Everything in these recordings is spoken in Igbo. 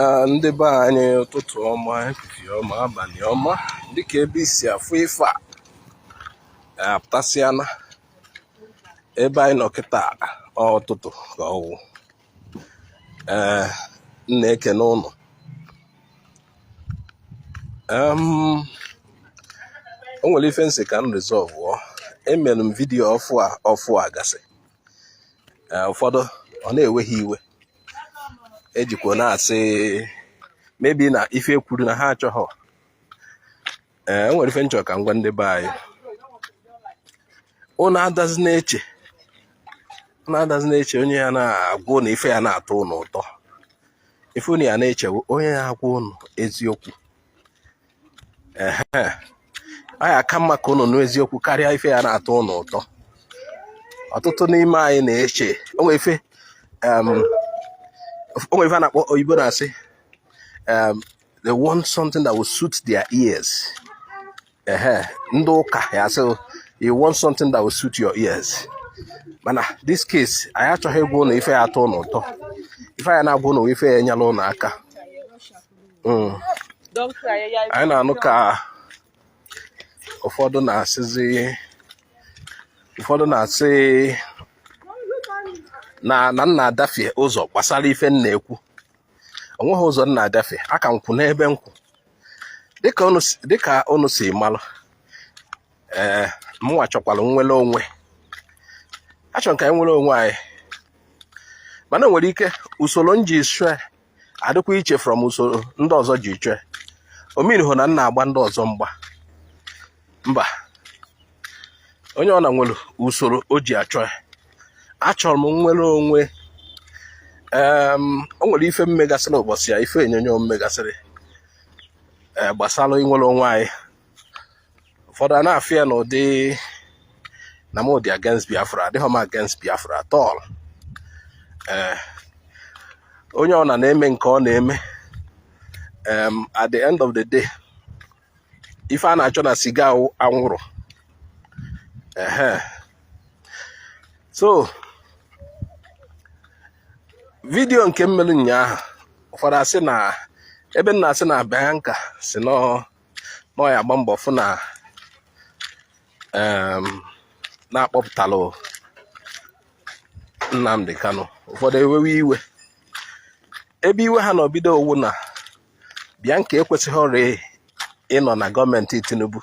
Ah, ndị be anyị ụtụtụ ọma efifie ọma abalị ọma dịka ebe i si afụ ife a apụtasịana ebe anyị nọ kịta ụtụtụ ka ọ wụ ee m na-ekene ụnụ o nwere ife m sị ka m rizọvụọ emere m vidiyo ọfụ a ọfụ a gasị eh, ụfọdụ ọ na-ewe ha iwe e jikwa na-asị maybe na ife e kwuru na ha achọghọ ee eh, o nwere ife m chọ ka m gwa ndị be anyị ụnụ adazi na-eche ụnụ adazi na-eche onye ya na-agwa ụnụ ife ya na-atọ ụnụ ụtọ ife ụnụ ya na-eche wụ onye ya agwa ụnụ eziokwu ehe ọ ya aka mma ka ụnụ nụ eziokwu karịa ife ya na-atọ ụnụ ụtọ ọtụtụ n'ime anyị na-eche o nwe ife a na-akpọ oyibo na-asị they want something that will suit their ears ehe ndị ụka ya asị you want something that will suit your ears mana this case anyị achọghị ịgwa ụnụ ife ya atọ ụnụ ụtọ ife ya na-agwa ụnụ ife ya enyela ụnụ aka hmm. anyị na-anụ ka ụfọdụ na-asịzi ụfọdụ na-asị na na m na-adafie ụzọ gbasara ife m na-ekwu o nweghị ụzọ m na-adafie aka m kwụ n'ebe m kwụ dịka unu si malụ ee eh, mụnwa chọkwara nnwere onwe achọrọ m ka anyị nwere onwe anyị mana nwere ike usoro m ji chọọ adịkwa iche from usoro ndị ọzọ ji chọọ ọ meanịghọ na m na-agba ndị ọzọ mgba mba onye ọwụna nwere usoro o ji achọ ya achọrọ m nnwere onwe o nwere ife m megasịrị ụbọchị ya ife onyonyo m megasịrị eh, gbasara inwere onwe anyị ụfọdụ a na-afụ ya n'ụdị na m dị against Biafra adịghị m against Biafra at all ee eh, onye ọwụna na-eme nke ọ na-eme at the end of the day ife a na-achọ na siga anwụrụ ehe so vidiyo nke m melu ụnyaahụ ụfọdụ asị na ebe m na-asị na Bianca sị na ọ na ọ ya agba mbọ fụ na na a kpọpụtalụ Nnamdi Kanu ụfọdụ ewewe iwe ebe iwe ha na-ebido wụ na Bianca ekwesịghọrị ịnọ na gọọmenti Tinubu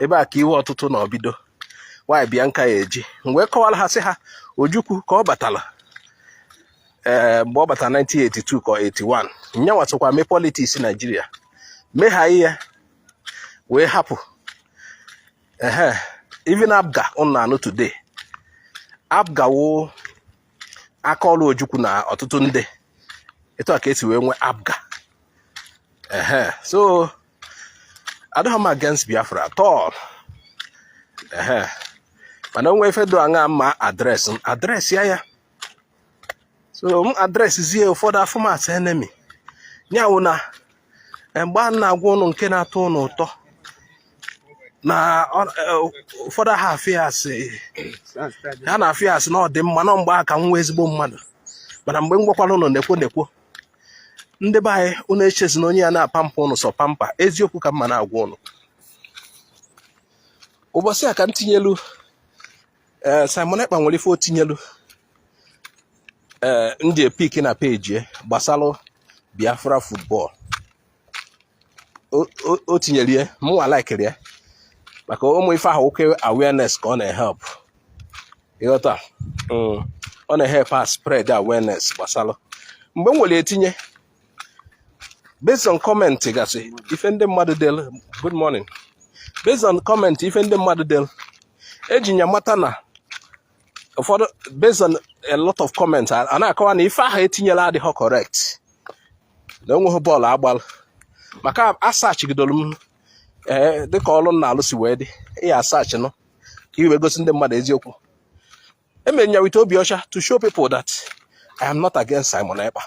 ebe a ka iwe ọtụtụ na-ebido nwaanyị Bianca ya eji mgbe kọwara ha sị ha Ojukwu ka ọ batara ee eh, mgbe ọ batara 1982 ka 81 nyanwa sokwa mee politiks naijiria megha ihe wee hapụ ehe even APGA ụnụ na-anụ today APGA wụ aka ọrụ ojukwu na ọtụtụ ndị etu a ka esi wee nwee APGA ehe so adịghị m against biafra at all ehe mana o nwe ife do aṅa m ma-adresị m adresị ya ya so m adresizie ụfọdụ afụ m as enemy nya wụ na eh, mgbe a na-agwa ụnụ nke na-atọ ụnụ ụtọ na eh, ụfọdụ ha afụ ya asị ha na-afụ ya asị na ọ dị mma na mgbe a ka m wụ ezigbo mmadụ mana mgbe m gwakwara ụnụ nekwo nekwo ndị be anyị ụnụ echezina onye ya na-apampa ụnụ sọ pampa eziokwu ka m ma na-agwa ụnụ ụbọchị a ka m tinyelu ee eh, Simon Ekpa nwere ife o tinyelu ee eh, ndị epik na peji ya gbasara Biafra football o tinyere ya mụnwa laikiri ya maka ụmụ ife ahụ oke awareness ka ọ na-ehelp ị ghọta mm. ọ na-ehelp a spread awareness gbasara mgbe m nwere etinye based on comment gasị ife ndị mmadụ delu good morning based on comment ife ndị mmadụ delu e ji nya mata na ụfọdụ based on a lot of comments a na-akọwa na ife ahụ e tinyelu adịghị correct na o nweghị bọọlụ a gbalụ maka asachigidoro m ee eh, dịka ọrụ m na-alụ si wee dị ị ya asachị nụ ka i wee gosi ndị mmadụ eziokwu emere ya with obi ọcha to show people that I am not against Simon Ekpa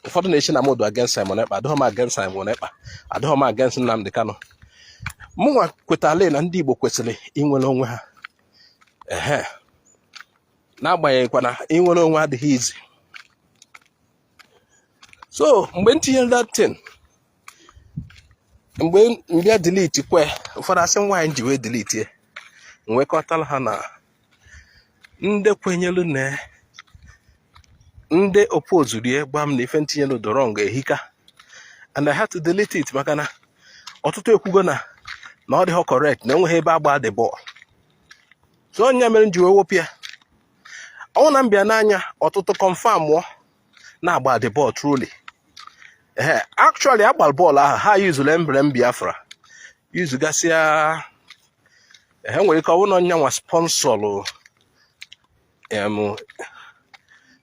ụfọdụ na-eche na m dị against Simon Ekpa adịghị m against Simon Ekpa adịghị m against Nnamdi Kanu mụnwa kwetara na ndị Igbo kwesịrị inwere onwe ha ehe n'agbanyeghịkwa na inwere onwe adịghị easy so mgbe m tinyere that thing mgbe m bịa delete kwe ụfọdụ asị mụnwa ji wee delete nwekọtara ha na ndị kwenyelu na ndị opozuru ya gwa m na ife m tinyelu dị wrong ehika and I had to delete it maka na ọtụtụ ekwugo na na ọ dịghị correct na o nweghị ebe a gbaa the bọọlụ so ọ nya mere m ji wee wepụ ya ọ wụ na m bịa n'anya ọtụtụ kọnfamụọ na a gbalụ the ball truly ee actually a gbara bọọlụ ahụ ha yuzuru emblem Biafra yuzugasịa ha nwere ike ọ bụ na nyanwa sponsọlụ em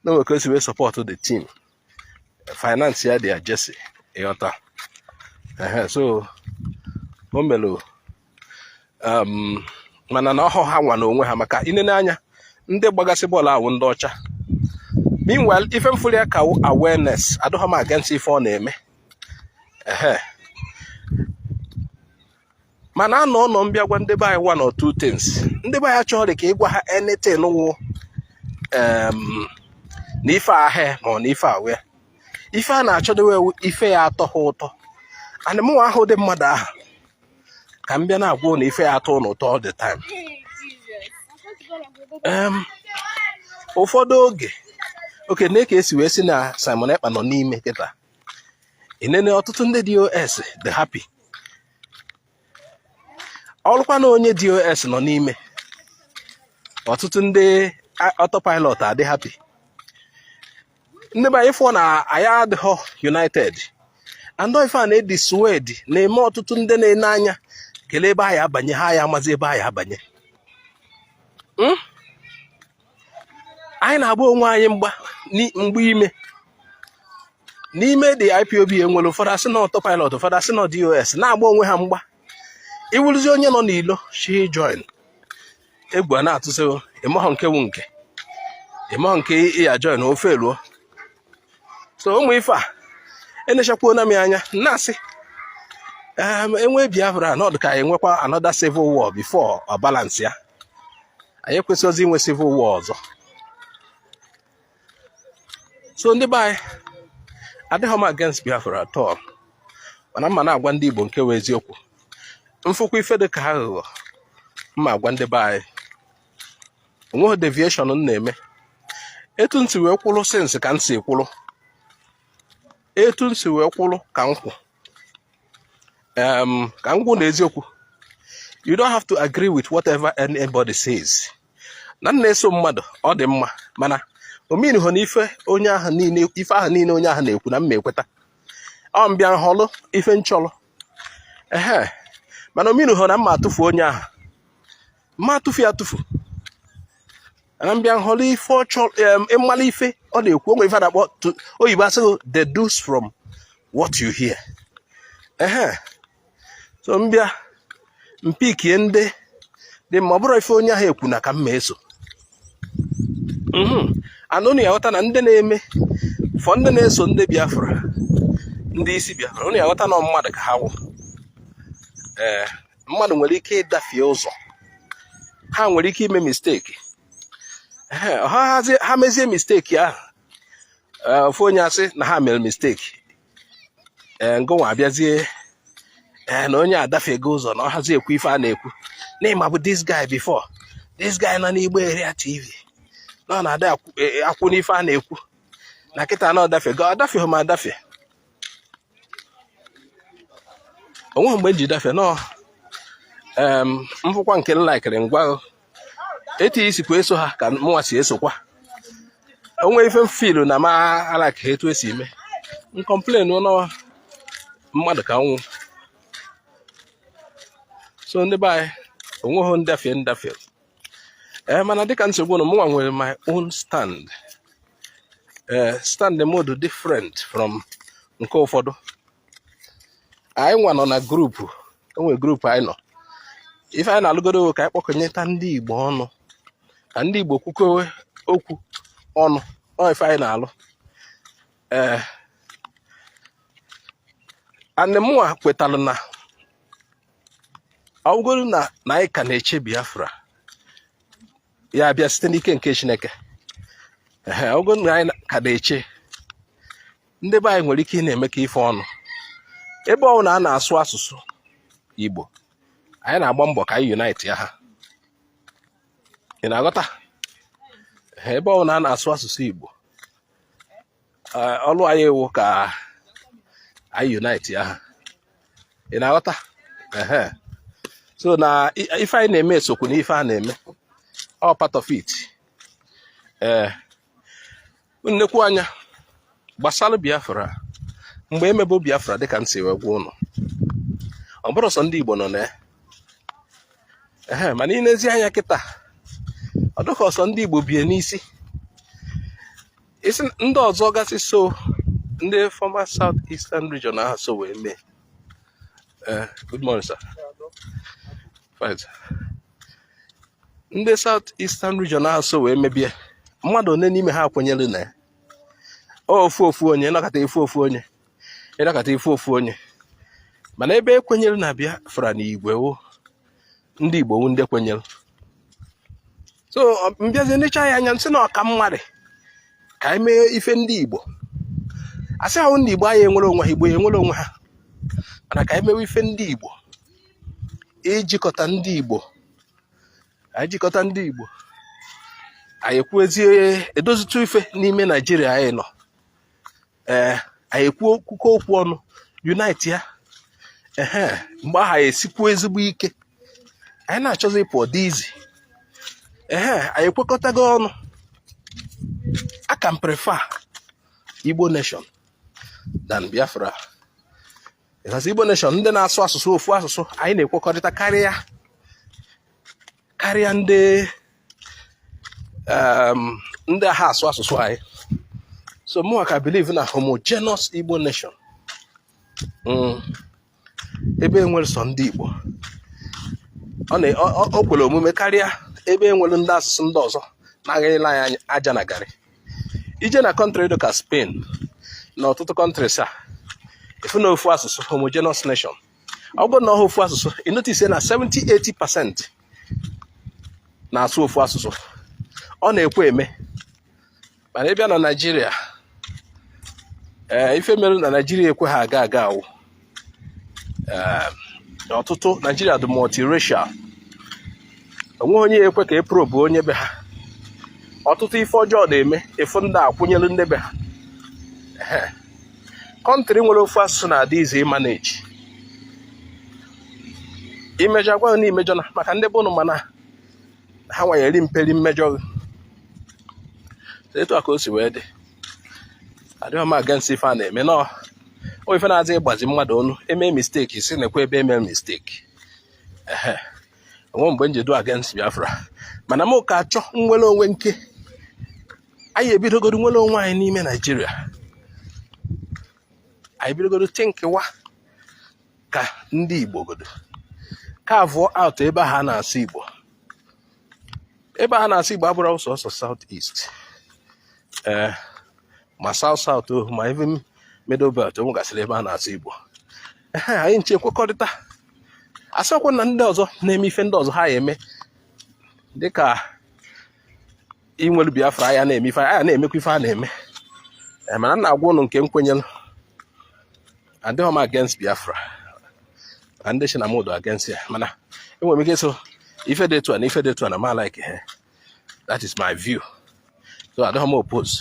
na o nwe ka o si wee sọpọtụ the team finance ya their jersey ị ghọta so o melu um, mana na ọhọ ha nwa n'onwe ha maka inene anya ndị gbagasị bọọlụ awụ ndị ọcha meanwhile ife mfụlụ ya ka awareness adịghị m against ife ọ na-eme mana a nọ anọ mbịa gwa ndị be anyị one or two things ndị be anyị achọghị ka ịgwa ha anything wụ um, na ife ahịa ma ọ na ife awe ife a na-achọdowe ife ya atọ ha ụtọ and mụwa ahọ ụdị mmadụ ahụ ka m bịa na-agwa ụnụ ife ya atọ ụnụ ụtọ all the time Em, ụfọdụ oge okay nee ka esi wee sị na Simon Ekpa nọ n'ime kịta inene ọtụtụ ndị DOS dị happy ọrụkwa na onye DOS nọ n'ime ọtụtụ ndị a- autopilot adị happy ndị be anyị fụọ na anyị adịghọ united and ọ ife a na-edissuade na-eme ọtụtụ ndị na-ene anya kelee ebe anyị abanye ha ya amazi ebe anyị abanye hmm? anyị na-agba onwe anyị mgba mgba ime n'ime the IPOB enwere ụfọdụ asị na autopilot ụfọdụ asị na DOS na-agba onwe ha mgba ịwụrụzi onye nọ n'ilo shi join egwu a na-atụzị ịmahọ nke wụ nke ịmahọ nke ịya join na ofe eluo so ụmụ ife a enechakwuo na m anya na-asị ehm, enwe biafra na ọdụ ka anyị nwekwa another civil war before ọ balance ya anyị ekwesịghịzi inwe civil war ọzọ so ndị be anyị adịghị m against Biafra at all mana mma na-agwa ndị Igbo nke wụ eziokwu mfụkwa ife dị ka aghụghọ mma agwa ndị be anyị onweghị deviation m na-eme etu nsi wee kwụrụ since ka nsi kwụrụ etu nsi wee kwụrụ ka m kwụ um, ka m gwa ụnụ eziokwu you don't have to agree with whatever anybody says na m na-eso mmadụ ọ dị mma mana ọ meanihọ na ife onye ahụ niile ife ahụ niile onye ahụ na-ekwu na mma ekweta ọ mbịa nhọlụ ife nchọlụ ehe mana ọ meanihọ na mma atụfu onye ahụ mma atụfu ya atụfu na mbịa nhọrọ ife ọ chọrọ ịmala ife ọ na-ekwu onwe ife na-akpọ oyibo asị gị deduce from what you hear ehe so mbịa mpikie ndị dị mma ọ bụrụ ife onye ahụ ekwu na ka mma eso mhm. and ụnụ ya aghọta na ndị na-eme fọ ndị na-eso ndị biafra ndị isi biafra ụnụ ya aghọta na mmadụ ka ha wụ ee mmadụ nwere ike ịdafie ụzọ ha nwere ike ime mistake ha mezie mistake ahụ e, ofu onye asị na ha mere mistake e, ngịnwa abịazie e, na onye adafego ụzọ na ọ hazi ekwu ife a na-ekwu na m mabu this guy before this guy nọ n'Igbo Area TV na ọ na-adị akwụ n'ife a na-ekwu na kịta na ọ dafego adafeghị m adafe o nweghị mgbe m ji dafie no m fụkwa nke m likeri ngwa etu i sikwa eso ha ka mụnwa si esokwa o nwee ife m feelụ na mụ alikehọ etu e si eme m complain na ọ wụ mmadụ ka m wụ so ndị be anyị o nweghị ndafie m dafie ee eh, mana dịka m si gwa ụnụ mụnwa nwere my own stand ee eh, stand mụ dị different from nke ụfọdụ anyị nwa nọ na group e nwere group anyị nọ ife anyị na-alụgodu wụ ka anyị kpọkọnyeta ndị Igbo ọnụ ka ndị Igbo kwukọwa okwu ọnụ ọ ife anyị na-alụ ee eh, and mụnwa kwetalụ na ọ wụgodu na anyị ka na-eche Biafra ya abịa site n'ike nke Chineke ọ wụgodu na anyị ka na-eche ndị be anyị nwere ike ịna-emekọ ife ọnụ ebe ọ wụna a na-asụ asụsụ Igbo anyị na-agba mbọ ka anyị unite ha ị na-aghọta ebe ọ wụna a na-asụ asụsụ Igbo Eh, ọlụ anyị wụ ka anyị unite ha ị na-aghọta so na ife anyị na-eme esokwa na ife a na-eme ọ part of it ee eh, m nekwaa anya gbasara Biafra mgbe e mebu Biafra dịka m si wee gwa ụnụ ọ bụrọ sọ ndị Igbo nọ na ya mana i nezie anya kịta ọ dịka ọ sọ ndị Igbo bu ya n'isi isi ndị ọzọ gasị so ndị former south eastern region ahụ so wee mee eh, good morning sir fine sir ndị south eastern region ahụ so wee mebe ya mmadụ one n'ime ha kwenyere na ya ofu ofu onye ị nọkata ị fụ ofu onye ị nọkata ị fụ ofu onye mana ebe e kwenyere na Biafra n'igwe wụ ndị Igbo wụ ndị kwenyere so m bịazie nechaa ya anya m sị na ọ ka mma rị ka anyị mee ife ndị Igbo a sị ọ wụ ndị Igbo anyị enwere onwe ha Igbo enwere onwe ha mana ka anyị mewe ife ndị Igbo ijikọta ndị Igbo anyị jikọta ndị Igbo anyị ekwuezie edozitụ ife n'ime Naijiria anyị nọ ee eh, anyị ekwuo kwukọọ okwu ọnụ unite ya ehe mgbe ahụ anyị esikwuo ezigbo ike anyị na-achọzi ịpụ ọ dị easy ehe anyị ekwekọtago ọnụ aka m prefer Igbo nation than Biafra because Igbo nation ndị na-asụ asụsụ ofu asụsụ anyị na-ekwekọrịta karịa karịa ndị um, ndị aha asụ asụsụ anyị so mụnwa ka believe na homogenous Igbo nation mm. ebe enwere sọ ndị Igbo o kwere omume karịa ebe enwere ndị asụsụ ndị ọzọ na-agaghịla anyị aja na garị i jee na country dịka Spain na ọtụtụ countries ị fụ na ofu asụsụ homogenous nation ọ bụrụ na ọha ofu asụsụ ị notice na 70-80 percent na-asụ ofu asụsụ ọ na-ekwe eme mana ịbịa na naijiria ee ife mere na naijiria ekwe ha aga aga awụ ọtụtụ naijiria dị multiracial o nweghị onye ya-ekwe ka e probe onye be ha ọtụtụ ife ọjọọ na-eme ị fụ ndị akwụnyelu ndị be ha country nwere ofu asụsụ na-adị easy ịmanage i mejọọ a gwa na i mejọna maka ndị bụ ụnụ mana ha nwanyere mperi mmejọ etu a ka o si wee dị adịghị m against ife a na-eme no ọ ife na-adị ịgbazi mmadụ ọnụ eme mistake sị nekwa ebe eme mistake ehe o nwe mgbe m ji dụ against Biafra mana m ka achọ nnwere onwe nke anyị ebidogodu nwere onwe anyị n'ime naijiria anyị bidogodu thinkịwa ka ndị igbo godu carvụọ out ebe ha na-asụ igbo ebe a na-asụ igbo abụrọ sọsọ south east ee eh, ma south south oh, ma even middle belt o nwegasịrị ebe a na-asụ igbo anyị ncha ekwekọrịta a sịkwa na ndị ọzọ na-eme ife ndị ọzọ ha ya eme dịka i nwelu biafra a ya na-eme ife a ya na-emekwa ife a na-eme eh, mana m na-agwa ụnụ nke m kwenyere adịghị m against biafra na ndị sị na mụ dụ against ya mana enwere m ike sị ife dị etu a na ife dị etu a na m alike ha eh. that is my view so adịghị m oppose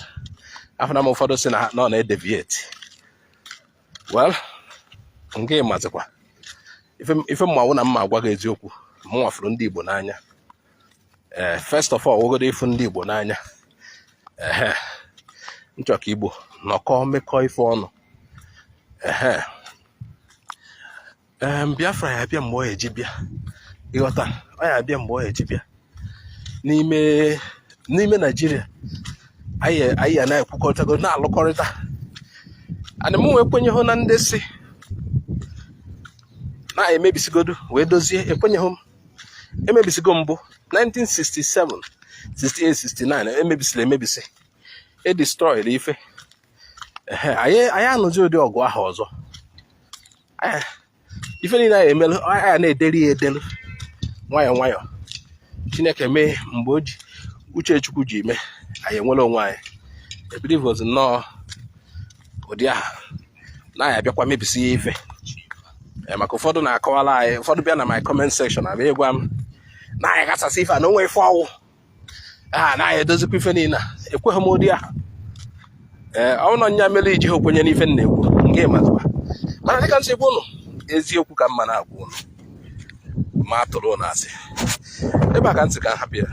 afụna m ụfọdụ sị na ọ na-edeviate well nke ịmazikwa ife m ma wụ na m ya-agwa gị eziokwu mụnwa fụrụ ndị Igbo n'anya ee eh, first of all wụgodu ịfụ ndị Igbo n'anya ehe m chọ ka Igbo nọkọọ mekọọ ife ọnụ ehe ee Biafra ya abịa mgbe ọ eji bịa ịghọta ọ ya abịa mgbe ọ eji bịa n'ime Naijiria anyị ya na-ekwukọrịtago na-alụkọrịta mana mụnwa ekwenyeghụ na ndị sị na a ya-emebisigodu wee dozie ekwenyeghị m emebisigo mbụ 1967 68 69 emebisiri emebisi e destroyed ife anyị anụzi ụdị ọgụ ahụ ọzọ ife niile anyị emelụ anyị na-edeli ya edelu nwayọọ nwayọọ chineke mee mgbe o ji uche chukwu ji mee anyị enwere onwe anyị ebilivozi nnọọ ụdị ahụ na anyị abịakwa mebisịa ife eh, maka ụfọdụ na-akọwara anyị ụfọdụ bịa na my comment section abịa ịgwa m na anyị gbasasịa ife a na o nwe ife ọ wụ ha ah, na anyị edozikwa ife niile ekweghị m ụdị ahụ ee eh, ọ wụ nya mere iji ha okwenye n'ife m na-ekwu nke mazụwa mana dịka m sịbu ụnụ eziokwu ka m na-agwa ụnụ ma atụrụ ụnụ asị ebe a ka ntị ka ha bịara